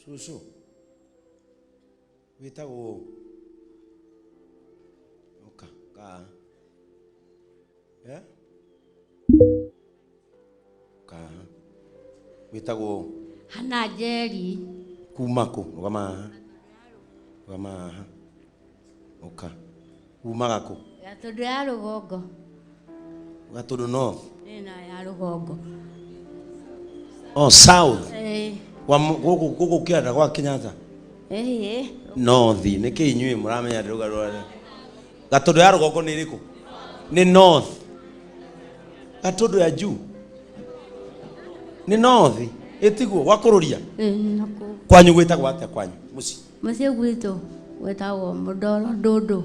cũcũ wĩtagwo ũũ ũka kaa Eh? kaa wĩtagwo ũũ hana njeri kuma kũ rũgama haha rũgama haha Ũka. Umaga kũ? Gatũndũ ya rũgongo. Gatũndũ north? Ĩĩ na ya rũgongo. Oh, south. Ĩĩ. Wa mu- gũkũ gũkũ Kĩanda gwa Kenyatta. Ĩĩ. North. Nĩ kĩ inyuĩ mũramenya atĩ rũga rwa Gatũndũ ya rũgongo nĩ ĩrĩkũ? Nĩ north. Gatũndũ ya juu? Nĩ north. Ĩtiguo gwa kũrũria. Ĩĩ na kũ. Kwanyu gwĩtagwo atĩa kwanyu? Mũciĩ. Mũciĩ gwitũ wĩtagwo Mũndoro Ndũndũ.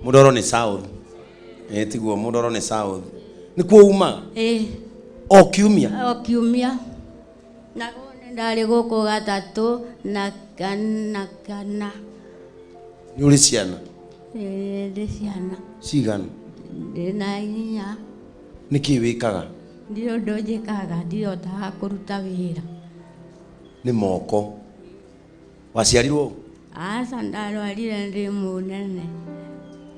Mũndoro nĩ South. Eh, tiguo Mũndoro nĩ South. Nĩ kuo umaga? Eh. O kiumia? O kiumia. Na ndarĩ gũkũ gatatũ na kana kana. Nĩ ũrĩ ciana? Eh, ndĩ ciana. Cigana? Ndĩ na inya. Nĩkĩ wĩkaga? Ndĩ ũndũ njĩkaga, ndihotaga kũruta wĩra. Nĩ moko. waciarirwo ũ? Aca ndarwarire ndĩ mũnene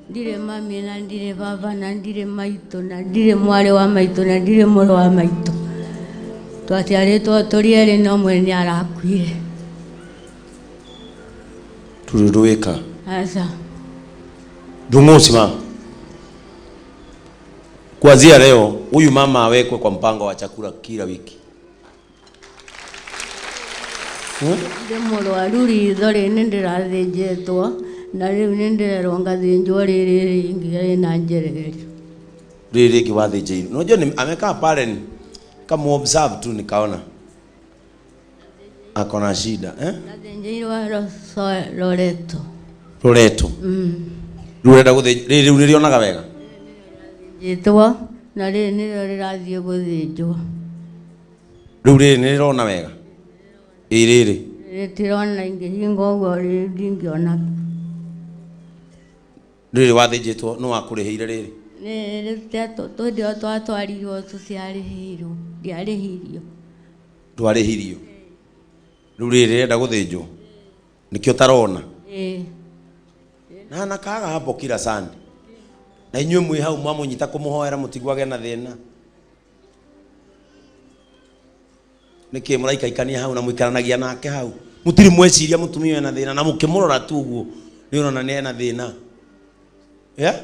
ndirĩ mami na ndirĩ baba na ndirĩ maitũ na ndirĩ mwarĩ wa maitũ na ndirĩ mũrũ wa maitũ twaciarĩtwo tũrĩ erĩ na ũmwe nĩ arakuire tũrĩ ndũwĩka aca ndung'ũci ma kuanzia leo huyu mama awekwe kwa mpango wa chakula kila wiki ndĩ mũrwaru ritho rĩ nĩ ndĩrathĩnjĩtwo na rĩu nĩ ndĩrerwo ngathĩnjwo rĩrĩ rĩngĩ rĩna njererio rĩrĩ rĩngĩ wathĩnjĩirwo unajua ni- amekaa pale ni kamuobserve tu nikaona ako na shida eh? ngathĩnjĩirwo Roso- loreto roreto Mm. rĩu ũrenda gũthĩnj- rĩrĩ rĩu nĩrĩonaga wega njĩtwo na rĩrĩ nĩrĩo rĩrathiĩ gũthĩnjwo rĩu rĩrĩ nĩ rĩrona wega ĩ rĩrĩ rĩtirona ingĩhinga ũguo rĩ- ndingĩona rĩrĩ wathĩnjĩtwo nĩ wakũrĩhĩire rĩrĩ twĩndĩo twatwarirwo tũtiarĩhĩirwo ndiarĩhirio ndwarĩhirio rĩu rĩrĩ rĩrenda gũthĩnjwo nĩkĩo tarona Ĩĩ. na na kaga hapo kila sande na inyuĩ mwĩ hau mwamũnyita kũmũhoera mũtigwage na thĩna nĩkĩ mũraikaikania hau na mũikaranagia nake hau mũtirĩ mweciria mũtumia ũyũ ena thĩna na mũkĩmũrora tu ũguo nĩ ũrona nĩ ena thĩna yeah?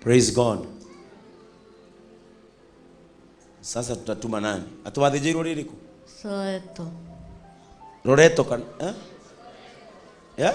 praise god sasa tutatuma nani atuwathĩnjĩirwo rĩrĩkũ Soweto. loreto kana eh? yeah?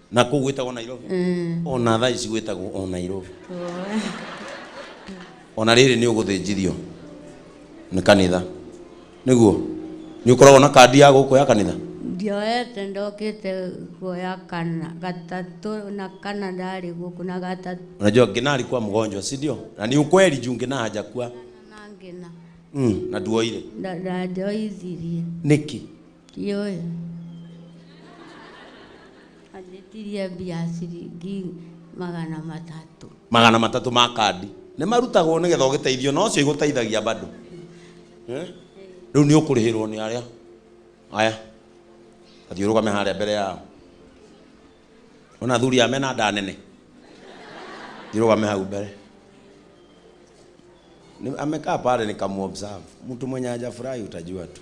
na kå u gwä tagwo nairobi ona thaa ici gwä tagwo o nairobi ona rä rä nä å gå thä njithio nä kanitha nä guo nä å koragwo na kandi ya gå kå ya kanitha ndioete ndokite kuoya kana gatatu na kana ndari guku na gatatu unajua ngina alikuwa mgonjwa si ndio na ni ukweli juu ngina hajakuwa na ngina mm, na nduoire Nda- na ndioithirie niki Kĩoĩ. Anjĩtirie mbia ciringi magana matatũ. magana matatũ ma kandi nĩ marutagwo nĩ getha ũgĩteithio na ũcio igũteithagia bado Eh? rĩu nĩ ũkũrĩhĩrwo nĩ arĩa aya athiĩ ũrũgame harĩa mbere yao ona athuri aya mena nda nene thiĩ ũrũgame hau mbere Ni- amekaa pale nikamuobserve mtu mwenye hajafurahi utajua tu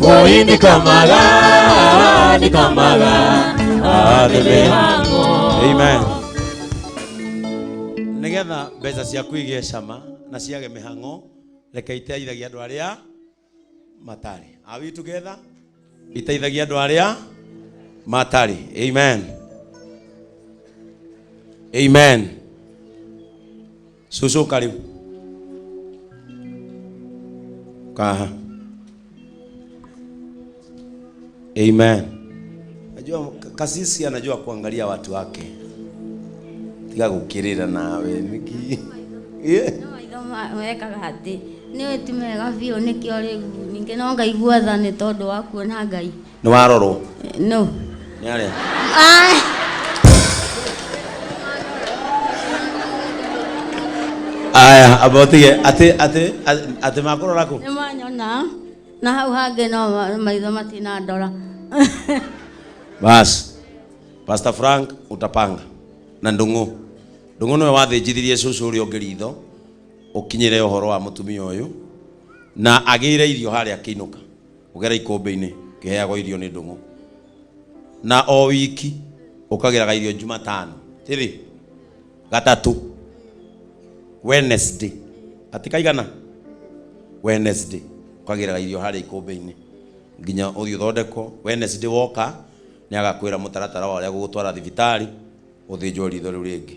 Boy ni kamaga, ni kamaga, adebe hango. Amen. Nĩgetha mbeca ciaku igĩe cama na ciage mĩhang'o, reke iteithagia andũ arĩa matarĩ. Are we together? Iteithagia andũ arĩa matarĩ. Amen. Amen. cũcũ karĩ kaha amen najua kasisi anajua kuangalia watu wake tiga gukirira nawe niki yeah. wekaga atĩ nĩ wĩti mega biũ nĩkĩo rĩu ningĩ no ngaigua tha nĩ tondũ wa kuona ngai nĩ warorwo no nĩ arĩa Ai. aya abotige atĩ atĩ atĩ makũrora kũ nĩ manyona na hau hangĩ no ma- maitho matinandora basi pastor frank utapanga na ndung'u ndung'u nĩwe wathĩnjithirie cũcũ ũrĩa ũngĩ ritho ũkinyĩre ũhoro wa mũtumia ũyũ na agĩire irio harĩa akĩinũka Ũgera ikũmbĩ-inĩ ũkĩheagwo irio nĩ ndũng'ũ, na o wiki ũkagĩraga irio Jumatano tĩrĩ gatatũ Wednesday ati kaigana Wednesday ũkagĩraga irio harĩa ikũmbĩ-inĩ nginya ũthiĩ ũthondekwo. Wednesday woka nĩ agakwĩra mũtaratara wa ũrĩa agũgũtwara thibitarĩ ũthĩnjwo ritho rĩu rĩngĩ.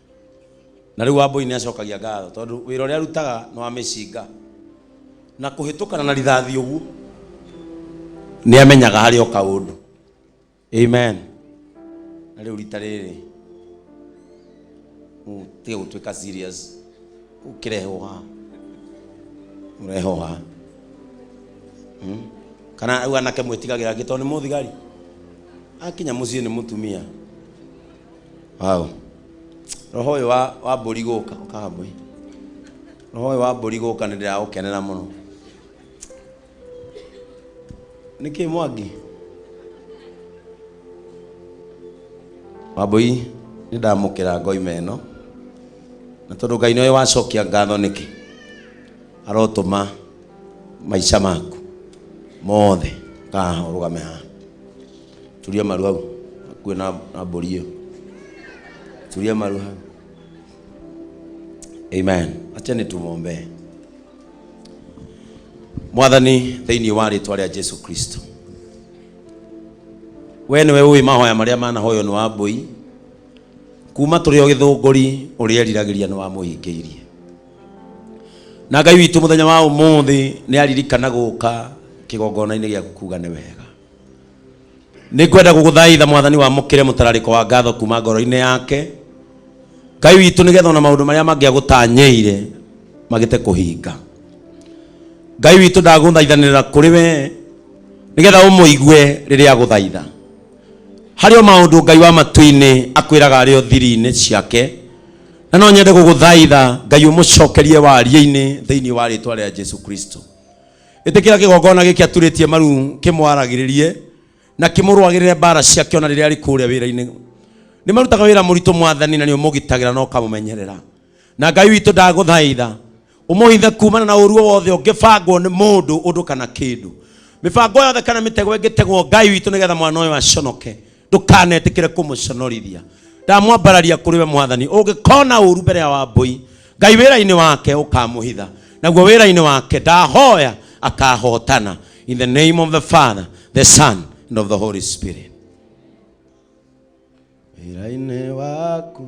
na rĩu wambũi nĩ acokagia ngatho tondũ wĩra ũrĩa arutaga nĩ wa mĩcinga na kũhĩtũkana na rithathi ũguo nĩ amenyaga harĩ o kaũndũ amen na rĩu rita rĩrĩ mm, tiga gũtuĩka serious ũkĩrehwo haha ũrehwo haha Mm. kana rĩu anake mwĩtigagĩra angĩ tondũ nĩ mũthigari akinya mũciĩ nĩ mũtumia Wow. Roho ũyũ wa, wa mbũri gũka ũkaga mbũri. Roho ũyũ wa mbũri gũka nĩ ndĩraũkenera mũno. Nĩ kĩ mwangi? Wambũi nĩ ndamũkĩra ngoima ĩno na tondũ Ngai nĩwe wacokia ngatho nĩkĩ arotũma maica maku mothe kaha ũrũgame haha Turia maru hau. Kuwe na, na mbũri ĩyo. Turia maru hau. Amen. Acha nĩtũmwombee. Mwathani thĩinĩ wa rĩtwa rĩa Jesu Kristo. We nĩwe ũĩ mahoya marĩa manahoywo nĩ wa mbũi kuma tũrĩ o gĩthũngũri ũrĩa eriragĩria nĩ wamũhingĩirie na ngai witũ mũthenya wa ũmũthĩ nĩ aririkana gũka kĩgongona-inĩ gĩaku kuga nĩ wega nĩ ngwenda gũgũthaitha mwathani wamũkĩre mũtararĩko wa ngatho kuma ngoro-inĩ yake ngai witũ nĩgetha ona maũndũ marĩa mangĩ agũtanyĩire magĩte kũhinga ngai witũ ndagũthaithanĩra kũrĩ we nĩgetha ũmũigue rĩrĩa agũthaitha harĩ o maũndũ ngai wa matu-inĩ akwĩraga arĩ o thiri-inĩ ciake na no nyende gũgũthaitha ngai ũmũcokerie waria-inĩ thĩinĩ wa rĩtwa rĩa jesu kristo ĩtĩkĩra kĩgongona gĩkĩ aturĩtie maru kĩmwaragĩrĩrie na kĩmũrũagĩrĩre mbara ciake ona rĩrĩa arĩ kũrĩa wĩra-inĩ nĩ marutaga wĩra mũritũ mwathani na nĩ ũmũgitagĩra na ũkamũmenyerera na ngai witũ ndagũthaitha ũmũhithe kumana na ũruo wothe ũngĩbangwo nĩ mũndũ ũndũ kana kĩndũ mĩbango yothe kana mĩtego ĩngĩtegwo ngai witũ nĩgetha mwana ũyũ aconoke ndũkanetikire kũmũconorithia ndamwambararia kũrĩ we mwathani ũngĩkona ũru mbere ya wambũi ngai wĩra-inĩ wake ũkamũhitha naguo wĩra-inĩ wake ndahoya akahotana in the name of the father the son and of the holy spirit wĩra-inĩ waku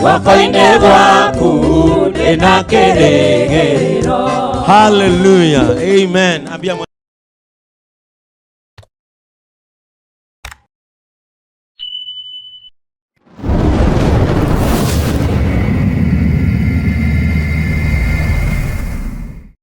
guoko-inĩ gwaku ndĩ na kĩrĩgĩrĩro hallelujah amen ambia mwa-